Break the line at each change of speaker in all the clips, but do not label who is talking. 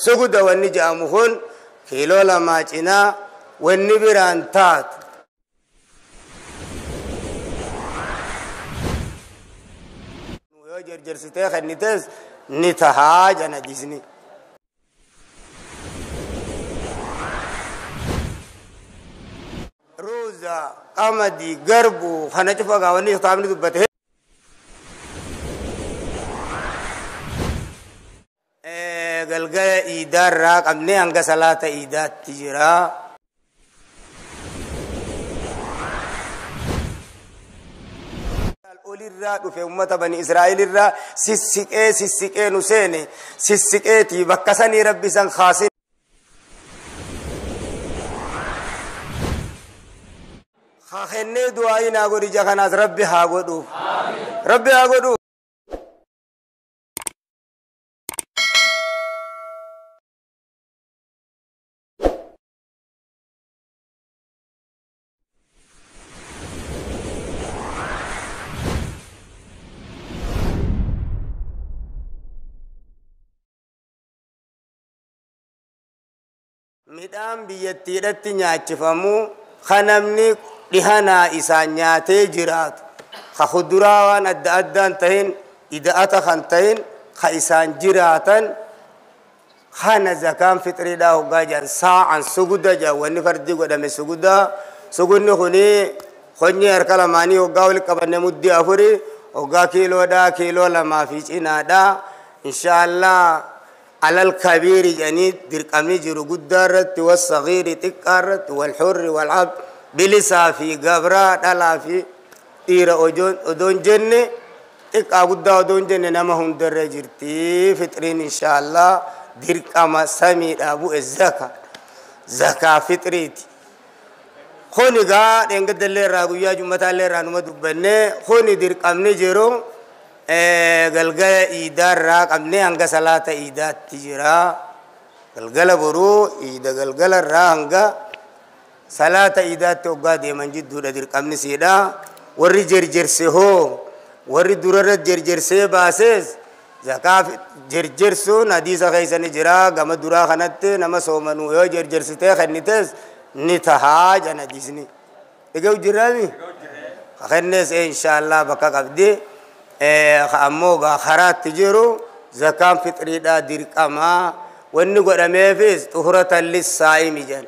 suguda wanni jedhamu kun kiiloo lamaa cinaa wanni biraan taatu. yoo jarjarsitee kennitees ni tahaa jana jisni. ruuza qamadii garbuu kana cufa gaa wanni kitaabni dubbate Eh, galgala iidaarraa qabnee hanga salaata iidaatti jira olirraa dhufe ummata bani israa'elirraa sissiqee sissiqee nu seene sissiqeetii bakka sanii rabbi san kaasin haa kennee du'aa'iin haa godhi ija kanaas rabbi haa godhu rabbi haa godhu midhaan biyyattiidhatti nyaachifamu ka namni dhihanaa isaan nyaatee jiraatu ka kuduraa waan adda addaan tahin ida'ata kan tahin ka isaan jiraatan Kana zakaan fixriidhaa hoggaa jedhan saa'an suguda jedhan wanni fardii godhame suguda sugunni kuni konyee harka lamaanii hoggaa wal qabanne muddii afuri hoggaa kiiloodhaa kiiloo lamaa fi cinaadhaa inshaallah alal kabiiri jedhanii dirqamni jiru guddaa irratti wal sagiiri xiqqaa irratti wal hurri wal ab bilisaa fi gabraa dhalaa fi dhiira odoon jenne Xiqqaa guddaa odoo hin jenne nama hundarra jirti fixriin inshaallah dirqama samiidhaa bu'e zaka zakaa fixriiti. Kun egaa dheengadda illee irraa guyyaa jummataa illee irraa numa dubbanne kuni dirqamni jiru galgala iidaa irraa qabnee hanga salaata iidaatti jira. Galgala boruu iida galgala irraa hanga Salaata iidaatti hoggaa deeman jidduudha dirqamni siidha. Warri jerjerse hoo? Warri durarra jerjersee baasees zakaa jerjersuun hadiisa keessa ni jira. Gama duraa kanatti nama soomanuu yoo jerjersitee kennitees ni tahaa jedhan hadiisni. Egaa hojjirraami? Ka kennees inshaallah bakka qabdi. Ka ammoo gaa karaatti jiru zakaan fixriidhaa dirqamaa. Wanni godhameefis xuhuratan lissaa'imi jedhan.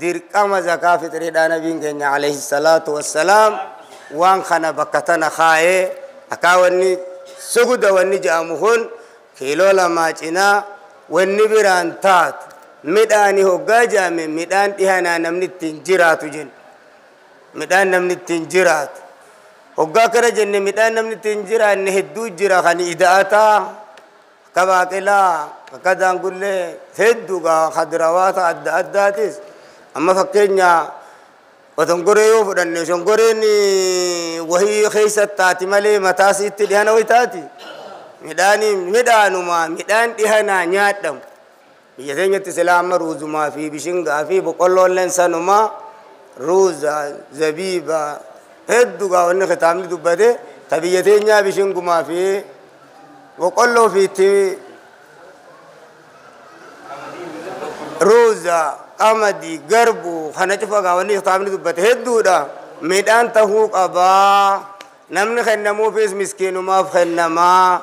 dirqama zakaa fixriidhaa nabiin keenya alayhi salaatu wassalaam waan kana bakka tana kaa'ee akkaa wanni suguda wanni ja'amu kun kiiloo lamaa cinaa wanni biraan taatu midhaani hoggaa ja'ame midhaan dhihanaa namni ittiin jiraatu jenna midhaan namni ittiin jiraatu hoggaa akkana jenne midhaan namni ittiin jiraanne hedduu jira kan ida'ataa Akka baaqelaa, akka daangullee hedduu gaa kadirawaata adda addaatis amma fakkeenya otongoree yoo fudhanne shongoreen wahii keessa taati malee mataa siitti dhihana wayitaati. Midhaanii midhaanuma midhaan dhihanaa nyaadhamu. Biyya keenyatti silaa amma ruuzumaa fi bishingaa fi boqqolloolleen sanuma ruuza, zabiiba heddu gaa wanni kitaabni dubbate ta biyya teenyaa bishingumaa fi boqqolloo fi itti ruuza, qamadii, garbuu kana cufa gaa wanni kitaabni dubbate hedduudha. Midhaan tahuu qabaa. Namni kennamuufis miskiinumaaf kennamaa.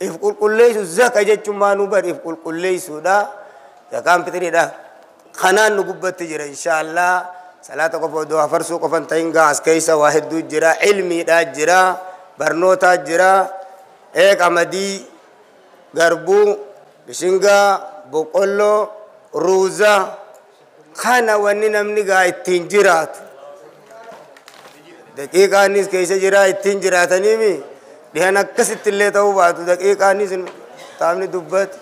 if qulqulleessu zaka jechuun maa nu bar if qulqulleessuudha zakaan fixiriidha kanaan nu gubbatti jira inshaallah salaata qofa odoo hafarsuu qofan ta'in gaa as keessa waa hedduu jira ilmiidhaa jira barnootaa jira ee qamadii garbuu bishingaa boqqolloo ruuza kana wanni namni gaa ittiin jiraatu daqiiqaanis keessa jiraa ittiin jiraataniimi dhihan akkasitti illee ta'uu baatu daqiiqaanis taamni dubbatu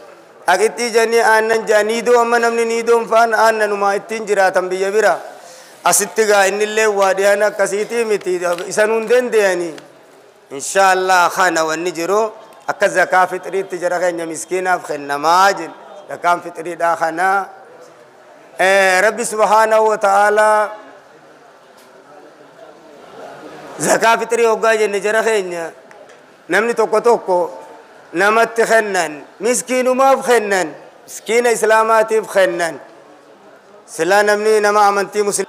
haqittii janii aannan jaa niidoo amma namni niidoon faan aannanumaa ittiin jiraatan biyya bira asitti gaa innillee waa dhihan akkasiitii miti isanuun danda'anii Inshallah kana wanni jiru akka zakaa fixriitti jara keenya miskiinaaf kennamaa jin zakaan fixriidhaa kana rabbi subhaanahu wa ta'aalaa zakaa fixrii hoggaa jenne jara keenya namni tokko tokko namatti kennan miskiinumaaf kennan miskiina islaamaatiif kennan silaa namni nama amantii muslim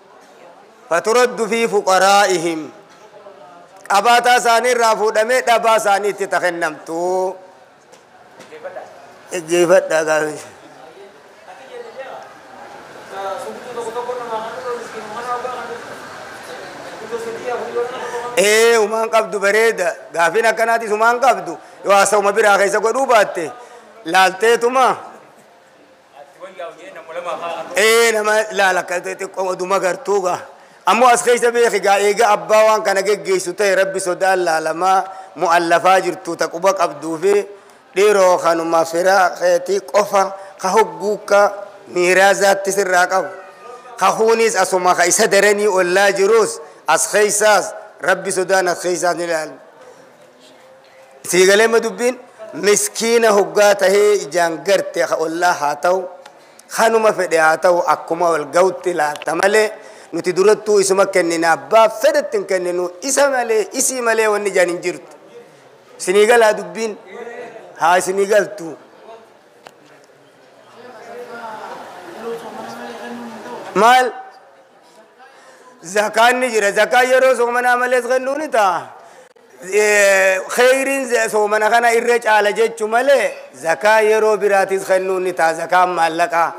faturaddu fii fuqaraa'ihim qabaataa isaanii irraa fuudhamee dhabaa isaaniitti ta kennamtu dhaggeeffadhaa gaafi ee umaan qabdu bareeda gaafin akkanaatis umaan qabdu yoo haasa'uma biraa keessa godhuu baatte laalteetuma ee nama ilaala akka xixiqqoo oduma gartuu gaa ammoo as keessa beeki gaa eega abbaa waan kana geggeessu ta'e rabbi sodaan laalamaa mu'allafaa jirtu ta quba qabduu fi dhiiroo kanuma firaa keetii qofa ka hogguukka miiraazaatti sirraa qabu ka kunis asuma ka isa daranii ollaa jirus as keessaas rabbi sodaan as keessaas ni ilaalna Sii galee ma dubbiin? Miskiina hoggaa tahee ijaan garte ka ollaa haa tahu kanuma fedhe haa tahu akkuma wal gahutti laatta malee nuti durattuu isuma kennina abbaa fedhetti hin kenninu isa malee isii malee wanni ijaan hin jirtu. Isinii galaa dubbiin? Haa isinii galtu. Maal? zakaan ni jira zakaa yeroo soomanaa malees kennuu ni ta'a kheyriin soomana kana irra caala jechu malee zakaa yeroo biraatis kennuu ni ta'a zakaan maallaqaa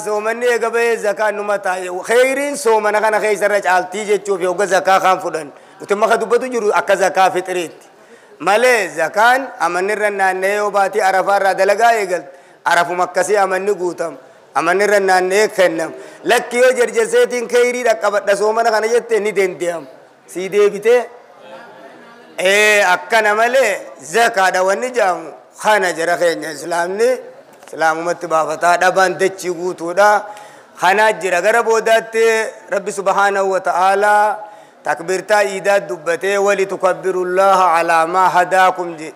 soomanni eega bahee zakaan numa taa'e kheyriin soomana kana keessa irra caaltii jechuuf yogga zakaa kaan fudhan nuti maka dubbatu jiru akka zakaa fixiriitti malee zakaan amanni irra naanna'ee yoo baatii arafaa irraa dalagaa eegalte Arafuma akkasii amanni guutama. Amanni irra naanna'ee kennama. Lakki yoo jerjerseetiin keeyrii dhaqqabadha soomana kana jette ni dende'ama. Sii deebitee ee akkana malee zakaadha wanni jedhamu kana jara keenya islaamni islaamumatti baafataa dhabaan dachii guutuudha. Kanaa jira gara boodaatti rabbi subhaanahu wa ta'aalaa takbirtaa iidaa dubbatee wali tukabbirullaha alaa maa hadaakum jedhe.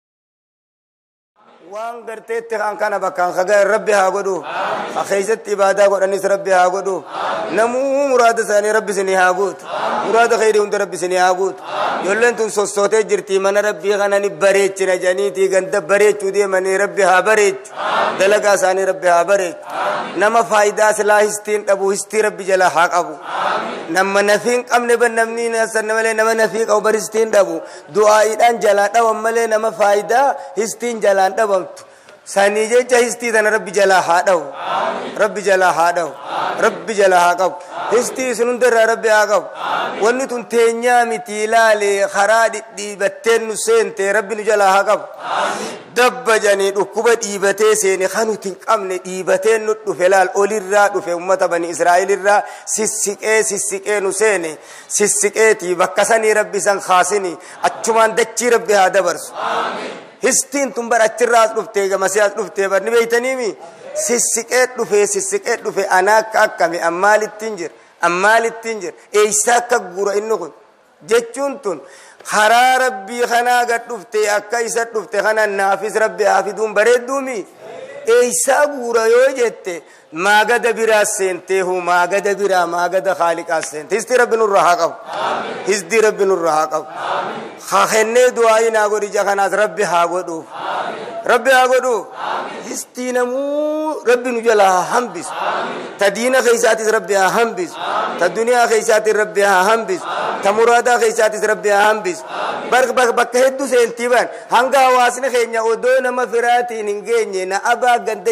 waan garteetti kan kana bakkaan kaga'e rabbi haa godhu ka keessatti ibaadaa godhanis rabbi haa godhu namuu muraada isaanii rabbi isinii haa guutu muraada keeyrii hunda rabbi isinii haa guutu ijoolleen tun sossootee jirti mana rabbii kana ni bareechina janiitii ganda bareechuu deemanii rabbi haa bareechu dalagaa isaanii rabbi haa bareechu nama faayidaa silaa histiin dhabu histii rabbi jala haa qabu nama nafiin qabne ban namni nasan malee nama nafii qabu baristiin dhabu Du'aa'iidhaan jalaa dhawan malee nama faaydaa histiin jalaan dhabamtu sanii jecha histii tana rabbi jalaa haa dhawu rabbi jalaa haa dhawu rabbi jalaa haa qabu histii isin hundarraa rabbi haa qabu wanni tun teenyaa miti ilaali karaa dhidhiibatteen nu seente rabbi nu jalaa haa qabu dabba janii dhukkuba dhiibatee seene kan nuti hin qabne dhiibatee nu dhufe laal olirraa dhufe ummata bani israa'elirraa sissiqee sissiqee nu seene sissiqeeti bakka sanii rabbi san kaasini achumaan dachii rabbi haa dabarsu histiin tun bar achirraa as dhuftee gamasee as dhuftee bar ni beeytaniimi sissiqee dhufee sissiqee dhufee anaa akka akkami an maalittiin jira an maalittiin jira eeysaa akka guura inni kun jechuun tun karaa rabbii kanaa gad dhuftee akka isa dhufte kana naafis rabbi haa fiduun bareedduumi eeysaa guura yoo jette Maagada biraas seentee hoo maagada biraa maagada haaliqaas seente. Histii rabbi nurra haa qabu. Hisdii rabbi nurra haa qabu. Haa kennee du'aayii naa godhi ija kanaas rabbi haa godhuuf. Rabbi haa godhuuf. Histii namuu rabbi nu jala haa hambisu. Ta diina keessaatis rabbi haa hambisu. Ta duniyaa keessaatis rabbi haa hambisu. Ta muraadaa keessaatis rabbi haa hambisu. Bar- bak- Bakka hedduu seentii ban hanga hawaasni keenya odoo nama firaatiin hin geenye na abaa ganda